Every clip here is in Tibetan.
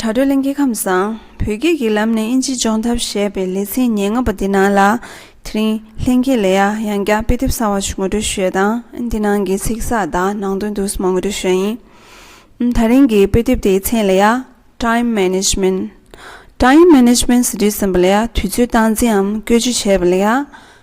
དྲ་གྲོགས་གླིང་སྐྱེ་ཁམས་བཟང་བོས་སྐྱིད་ཀྱི་ལམ་ནས་དབྱིན་ཇིའི་ལྗོངས་ཐབས་ཞེས་པའི་ལེ་ཚན་ཉེར་ལྔ་པ་འདི་ནང་ལ། དེ་རིང་ལྷན་རྒྱས་ལས་ཡག་ཡང་བསྐྱར་དཔེ་དེབ་གསར་བ་ཞིག་ངོ་སྤྲོད་ཞུས་ཡོད་ལྟ་འདི་ནང་གི་ཚིག་གསར་དག་ནང་དོན་དུ་སྨྲ་ངོ་སྤྲོད་ཞུས་ཡིན། ད་རིང་གི་དཔེ་དེབ་དེའི་མཚན་ལས་ཡག Time Management Time Management Studies ཟེར་བ་ལས་ཡག་དུས་ཚོད་སྟངས་འཛིན་འམ་བཀོལ་སྤྱོད་བྱེད་པ་ལས་ཡག།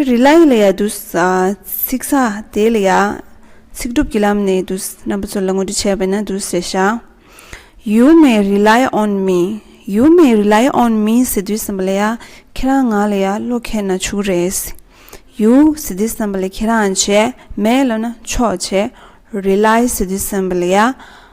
ཁྲི་རི་ལ་ཡི་ལ་ཡ་འདུས། ཚིག་ས་དེའི་ལ་ཡ། ཚིག་གྲུབ་ཀྱི་ལམ་ནས་འདུས། རྣམ་པ་ཚོ་ལ་ངོ་སྤྲོད་བྱས་པས་ན་འདུས་ཞེས་བྱ། ཡུལ་མེ་རི་ལ་ཡ་ཨོན་མིན། ཡུལ་མེ་རི་ལ་ཡ་ཨོན་མིན་ཟེར་དུས་བསམ་པ་ལ་ཡ། ཁྱེད་རང་ང་ལ་ཡ་བློ་མཁས་ན་བྱུག་རེད། ཡུལ་ཟེར་དུས་བསམ་པ་ལ་ཁྱེད་རང་བྱས། མེ་བློ་ན་ཆོག་བྱས། རི་ལ་ཡ་ཟེར་དུས་བསམ་པ་ལ་ཡ།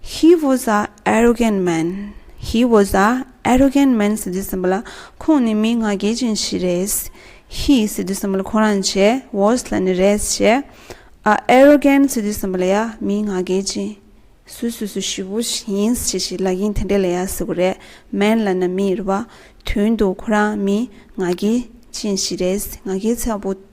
He was a arrogant man He was a arrogant man ཟེར་དུས་སེམས་པ་ལ་ཁོང་ནི་མི་ང་རྒྱལ་ཅན་ཞིག་རེད། He ཟེར་དུས་སེམས་པ་ལ་ཁོ་རང་བྱས was ལ་ནི་རེད་བྱས། a arrogant ཟེར་དུས་སེམས་པ་ལ་ཡ་མི་ང་རྒྱལ་ཅན། སུས་སུས་སུ་ཞུ་བོ་ཡིན་བྱས་ཞེས་ལ་ཡིན་དེ་འདྲས་ལ་ཡ་ཟེར་བ་རེད man ལ་ནི་མི་རེད་བ། དོན་དུ་ཁོ་རང་མི་ང་རྒྱལ་ཅན་ཞིག་རེད་ང་རྒྱལ་ཚ་བོ།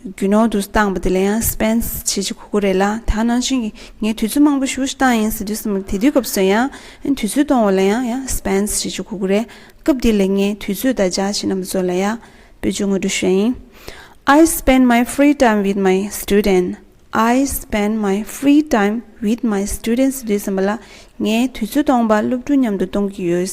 རྒྱུ་ནོར་དུ་བཏང་བ་དེ་ལ་ཡང་སྤེན་ཟེར་བྱེད་ཅིག་གོ་གོ་རེད་ལ་ད་ནང་བཞིན་གྱི་ངས་དུས་ཚོད་མང་པོ་ཞུགས་ཤིག་བཏང་ཡིན་ཟེར་དུས་སུ་མི་དེ་དུས་སྐབས་སོན་ཡང་དུས་ཚོད་གཏོང་བ་ལ་ཡང་ཡང་སྤེན་ཟེར་བྱེད་ཅིག་གོ་གོ་རེད་སྐབས་དེ་ལས་ངས་དུས་ཚོད་དང་བརྒྱ་བྱིན་རྣམས་ཚོ་ལ་ཡང་པོད་ཅུ་ངོ་སྤྲོད་ཤོད་ཡིན I spend my free time with my student I spend my free time with my student ཟེར་དུས་སེམས་པ་ལ་ངས་དུས་ཚོད་སྟོང་པ་སློབ་ཕྲུག་མཉམ་དུ་གཏོང་གི་ཡོད་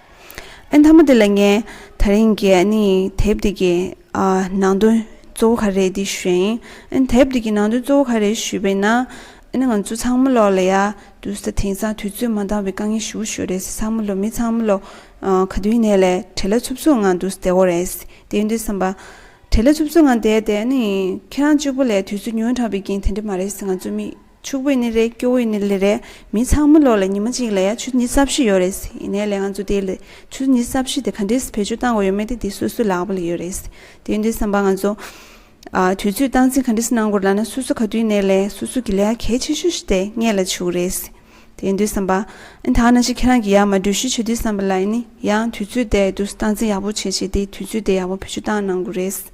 ཨེ་མཐའ་མ་དེ་ལ་ངས་ད་རིང་གི་ནི་དེབ་དེ་གི་ནང་དོན་གཙོ་བོ་ག་རེད་འདི་ཞུས་ཡིན་ཨེ་དེབ་དེ་གི་ནང་དོན་གཙོ་བོ་ག་རེད་ཞུས་པས་ན་ཨེ་ནི་ང་ཚོ་ཚང་མ་ལོག་ལ་ཡ་འདུག་ས་དེང་སང་དུས་ཚོད་མ་འདང་བའི་དཀའ་ངལ་ཞུ་བ་ཞུ་རེད་ས་ཚང་མ་ལོག་མི་ཚང་མ་ལོག་ག་དུས་ནས་ལས་བྲེལ་ལ་འཚུབ་འཚུབ་ངང་འདུག་བསྡད་གོ་རེད་དེ་ཡིན་དུས་བསམ་པ་བྲེལ་ལ་འཚུབ་འཚུབ་ངང་བསྡད་དེ་ཨེ་ནི་ཁྱེད་རང་གཅིག་པོ་ལས་དུས་ཚོད་ཉུང་དྲགས་པའི་རྐྱེན་དེ་འདྲ་མ་རེད་ས་ང་ཚོ་མི་ཕྱུག་པོས་ནི་རེད་སྐྱོ་བོས་ནི་ལི་རེད། མི་ཚང་མ་ལོག་ལ་ཉི་མ་གཅིག་ལ་ཡ་ཆུ་གཉིས་རྩ་བཞི་ཡོད་རེད། ཡིན་ནའི་ལེ་ང་ཚོ་དེ་ལི་ཆུ་གཉིས་རྩ་བཞི་དེ་ག་འདྲེས་བེད་སྤྱོད་གཏང་དགོས་ཡོད་མེད་དེ་དེ་སོ་སོའི་ལག་པ་ལ་ཡོད་རེད། དེ་འདྲའི་བསམ་པ་ང་ཚོ། དུས་ཚོད་སྟངས་འཛིན་ག་འདྲེས་གནང་དགོས་ལ་ན་སོ་སོ་ག་དུས་ནས་ལས་སོ་སོ་གི་ལས་ཀ་གལ་ཆེ་ཤོས་ཤིག་དེ་སྔས་ལ་བྱུག་རེད། དེ་འདྲའི་བསམ་པ། ཨེ་ད་ན་ཞིག་ཁྱེད་རང་གི་ཡར་མ་འགྲུལ་བཞུད་བྱེད་དུས་བསམ་པ་ལ་ཡིན་ནི་ཡང་དུས་ཚོད་དེ་དུས་སོ་སྟངས་འཛིན་ཡག་པོ་བྱེད་བྱས་དེ་དུས་ཚོད་དེ་ཡག་པོ་བེད་སྤྱོད་གཏང་གནང་དགོས་རེད།